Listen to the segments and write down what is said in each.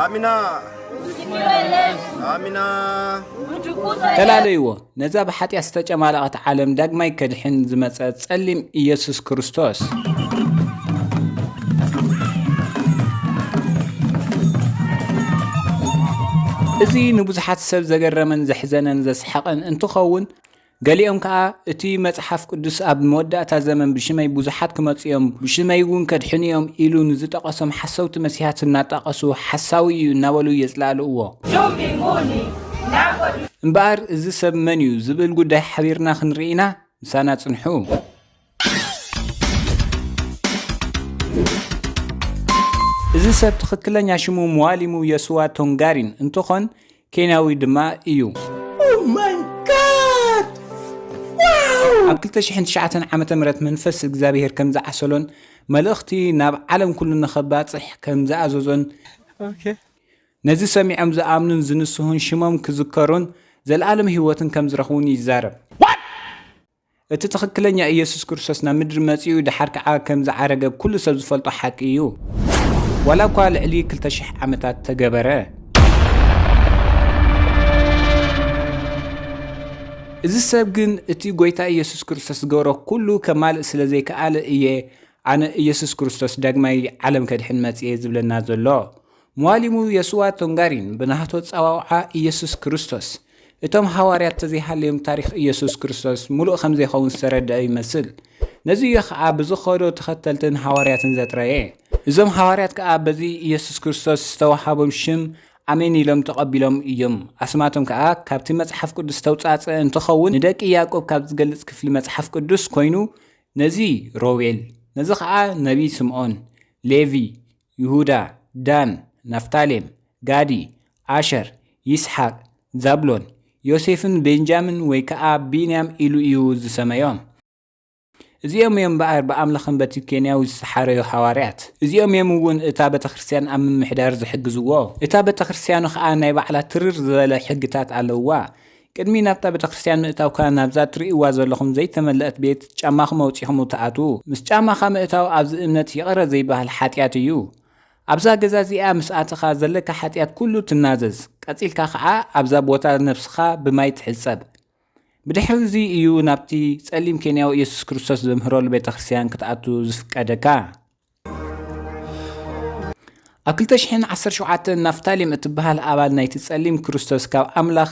ኣሚና ኣሚና ተላለይዎ ነዛ ብሓጢኣት ዝተጨማለቐት ዓለም ዳግማይ ከድሕን ዝመፀ ጸሊም ኢየሱስ ክርስቶስ እዚ ንብዙሓት ሰብ ዘገረመን ዘሕዘነን ዘስሓቐን እንትኸውን ገሊኦም ከኣ፣ እቲ መጽሓፍ ቅዱስ ኣብ መወዳእታ ዘመን ብሽመይ ብዙሓት ክመጹ እዮም፣ ብሽመይውን ከድሕኑ እዮም ኢሉ ንዝጠቐሶም ሓሰውቲ መሲሓት እናጣቐሱ ሓሳዊ እዩ እናበሉ የጽላእልእዎ። እምበኣር እዚ ሰብ መን እዩ ዝብል ጉዳይ ሓቢርና ክንርኢ ኢና፣ ምሳና ጽንሑ። እዚ ሰብ ትኽክለኛ ሽሙ መዋሊሙ የስዋ ቶንጋሪን እንትኾን ኬንያዊ ድማ እዩ። ኣብ 2009 ዓ ም መንፈስ እግዚኣብሄር ከም ዝዓሰሎን መልእኽቲ ናብ ዓለም ኩሉ ንኸባፅሕ ከም ዝኣዘዞን ነዚ ሰሚዖም ዝኣምኑን ዝንስሁን ሽሞም ክዝከሩን ዘለኣለም ህይወትን ከም ዝረኽቡን ይዛረብ። እቲ ትኽክለኛ ኢየሱስ ክርስቶስ ናብ ምድሪ መጺኡ ደሓር ከኣ ከም ዝዓረገ ኩሉ ሰብ ዝፈልጦ ሓቂ እዩ። ዋላ እኳ ልዕሊ ክልተ ሽሕ ዓመታት ተገበረ። እዚ ሰብ ግን እቲ ጎይታ ኢየሱስ ክርስቶስ ዝገበሮ ኩሉ ከማልእ ስለ ዘይከኣለ እየ ኣነ ኢየሱስ ክርስቶስ ዳግማይ ዓለም ከድሕን መጽየ ዝብለና ዘሎ። ሟሊሙ የሱዋ ቶንጋሪን ብናህቶ ጸዋውዓ ኢየሱስ ክርስቶስ እቶም ሃዋርያት ተዘይሃለዮም ታሪኽ ኢየሱስ ክርስቶስ ምሉእ ከምዘይኸውን ዝተረድኣ ይመስል። ነዚ እዩ ከኣ ብዝኸዶ ተኸተልትን ሃዋርያትን ዘጥረየ። እዞም ሃዋርያት ከኣ በዚ ኢየሱስ ክርስቶስ ዝተወሃቦም ሽም ኣሜን ኢሎም ተቐቢሎም እዮም። ኣስማቶም ከኣ ካብቲ መጽሓፍ ቅዱስ ዝተውጻእጸ እንትኸውን ንደቂ ያእቆብ ካብ ዝገልጽ ክፍሊ መጽሓፍ ቅዱስ ኮይኑ ነዚ ሮቤል፣ ነዚ ከኣ ነቢይ ስምዖን፣ ሌቪ፣ ይሁዳ፣ ዳን፣ ናፍታሌም፣ ጋዲ፣ ኣሸር፣ ይስሓቅ፣ ዛብሎን፣ ዮሴፍን ቤንጃምን ወይ ከኣ ቢንያም ኢሉ እዩ ዝሰመዮም። እዚኦም እዮም እምበኣር ብኣምላኽን በቲ ኬንያዊ ዝተሓረዩ ሃዋርያት። እዚኦም እዮም እውን እታ ቤተክርስትያን ኣብ ምምሕዳር ዝሕግዝዎ። እታ ቤተክርስትያኑ ከኣ ናይ ባዕላ ትርር ዝበለ ሕግታት ኣለውዋ። ቅድሚ ናብታ ቤተክርስትያን ምእታውካ ናብዛ ትርእይዋ ዘለኹም ዘይተመለእት ቤት ጫማኹም ኣውጺኹም ትኣትዉ። ምስ ጫማኻ ምእታው ኣብዚ እምነት ይቕረ ዘይበሃል ሓጢኣት እዩ። ኣብዛ ገዛ እዚኣ ምስ ኣተኻ ዘለካ ሓጢኣት ኩሉ ትናዘዝ። ቀጺልካ ከኣ ኣብዛ ቦታ ነብስኻ ብማይ ትሕጸብ። ብድሕሪ እዚ እዩ ናብቲ ጸሊም ኬንያዊ ኢየሱስ ክርስቶስ ዘምህረሉ ቤተክርስትያን ክትኣቱ ዝፍቀደካ። ኣብ 217 ናፍታሊም እትበሃል ኣባል ናይቲ ጸሊም ክርስቶስ ካብ ኣምላኽ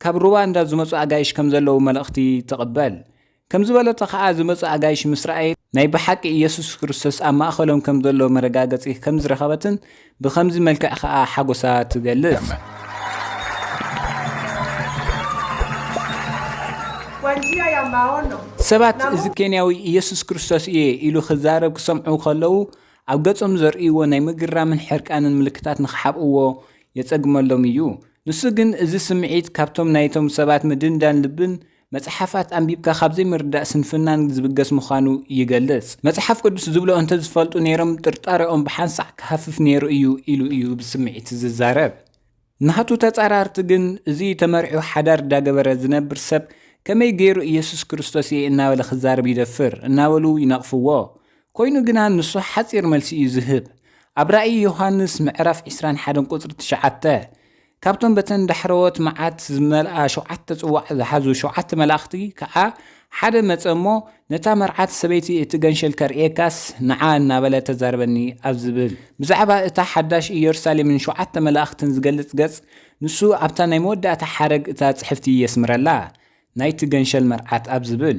ካብ ሩዋንዳ ዝመጹ ኣጋይሽ ከም ዘለዉ መልእኽቲ ትቕበል ከም ዝበለቶ ኸኣ ዝመጹ ኣጋይሽ ምስ ረኣየ ናይ ብሓቂ ኢየሱስ ክርስቶስ ኣብ ማእኸሎም ከም ዘሎ መረጋገጺ ከም ዝረኸበትን ብኸምዚ መልክዕ ከኣ ሓጎሳ ትገልጽ። ሰባት እዚ ኬንያዊ ኢየሱስ ክርስቶስ እየ ኢሉ ክዛረብ ክሰምዑ ከለዉ ኣብ ገጾም ዘርእይዎ ናይ ምግራምን ሕርቃንን ምልክታት ንኽሓብእዎ የጸግመሎም እዩ። ንሱ ግን እዚ ስምዒት ካብቶም ናይቶም ሰባት ምድንዳን ልብን መጽሓፋት ኣንቢብካ ካብ ዘይምርዳእ ስንፍናን ዝብገስ ምዃኑ ይገልጽ። መጽሓፍ ቅዱስ ዝብሎ እንተ ዝፈልጡ ነይሮም ጥርጣረኦም ብሓንሳዕ ክሃፍፍ ነይሩ እዩ ኢሉ እዩ ብስምዒት ዝዛረብ። ናቱ ተጻራርቲ ግን እዚ ተመሪዑ ሓዳር ዳገበረ ዝነብር ሰብ ከመይ ገይሩ ኢየሱስ ክርስቶስ እየ እናበለ ክዛረብ ይደፍር እናበሉ ይነቕፍዎ። ኮይኑ ግና ንሱ ሓጺር መልሲ እዩ ዝህብ። ኣብ ራእይ ዮሃንስ ምዕራፍ ዕስራን ሓደን ቁጽሪ ትሽዓተ ካብቶም በተን ዳሕረዎት መዓት ዝመልኣ ሸውዓተ ጽዋዕ ዝሓዙ ሸውዓተ መላእኽቲ ከኣ ሓደ መጸ እሞ፣ ነታ መርዓት ሰበይቲ እቲ ገንሸል ከርእየካስ ንዓ እናበለ ተዛረበኒ ኣብ ዝብል ብዛዕባ እታ ሓዳሽ ኢየሩሳሌምን ሸውዓተ መላእኽትን ዝገልጽ ገጽ ንሱ ኣብታ ናይ መወዳእታ ሓረግ እታ ጽሕፍቲ የስምረላ ናይቲ ገንሸል መርዓት ኣብ ዝብል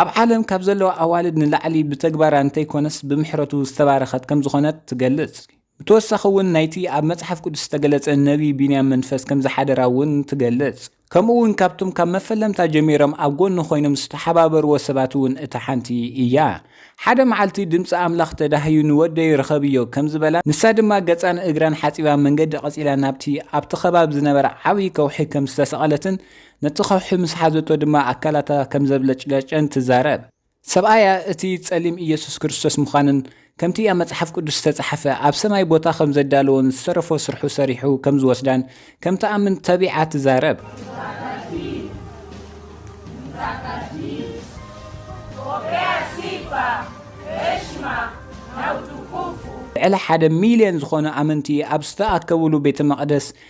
ኣብ ዓለም ካብ ዘለዋ ኣዋልድ ንላዕሊ ብተግባራ እንተይኮነስ ብምሕረቱ ዝተባረኸት ከም ዝኾነት ትገልጽ። ብተወሳኺ እውን ናይቲ ኣብ መጽሓፍ ቅዱስ ዝተገለጸ ነብዪ ቢንያም መንፈስ ከም ዝሓደራ እውን ትገልጽ። ከምኡ እውን ካብቶም ካብ መፈለምታ ጀሚሮም ኣብ ጎኑ ኮይኖም ዝተሓባበርዎ ሰባት እውን እታ ሓንቲ እያ። ሓደ መዓልቲ ድምጺ ኣምላኽ ተዳህዩ ንወደይ ርኸብዮ ከም ዝበላን ንሳ ድማ ገጻን እግራን ሓጺባ መንገዲ ቀጺላ ናብቲ ኣብቲ ከባቢ ዝነበረ ዓብዪ ከውሒ ከም ዝተሰቐለትን ነቲ ከውሒ ምስ ሓዘቶ ድማ ኣካላታ ከም ዘብለጭለጨን ትዛረብ። ሰብኣያ እቲ ጸሊም ኢየሱስ ክርስቶስ ምዃንን ከምቲ ኣብ መጽሓፍ ቅዱስ ዝተጻሕፈ ኣብ ሰማይ ቦታ ከም ዘዳለዎን ዝተረፎ ስርሑ ሰሪሑ ከም ዝወስዳን ከም ትኣምን ተቢዓ ትዛረብ። ልዕሊ ሓደ ሚልዮን ዝኾኑ ኣመንቲ ኣብ ዝተኣከብሉ ቤተ መቕደስ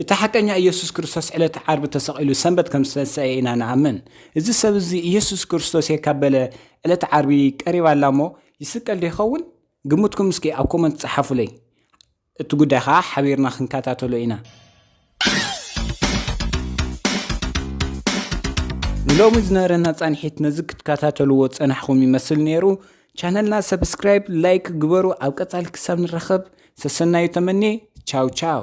እቲ ሓቀኛ ኢየሱስ ክርስቶስ ዕለተ ዓርቢ ተሰቒሉ ሰንበት ከም ዝተንሰኤ ኢና ንኣምን። እዚ ሰብ እዚ ኢየሱስ ክርስቶስ እየ ካብ በለ ዕለተ ዓርቢ ቀሪባ ኣላ እሞ ይስቀል ዶ ይኸውን? ግምትኩም እስኪ ኣብ ኮመንት ጸሓፉለይ። እቲ ጉዳይ ከኣ ሓቢርና ክንከታተሎ ኢና። ንሎሚ ዝነበረና ጻንሒት ነዚ ክትከታተልዎ ዝጸናሕኩም ይመስል ነይሩ። ቻነልና ሰብስክራይብ ላይክ ግበሩ ኣብ ቀጻሊ ክሳብ ንራኸብ ሰሰናዩ ተመኔ ቻው ቻው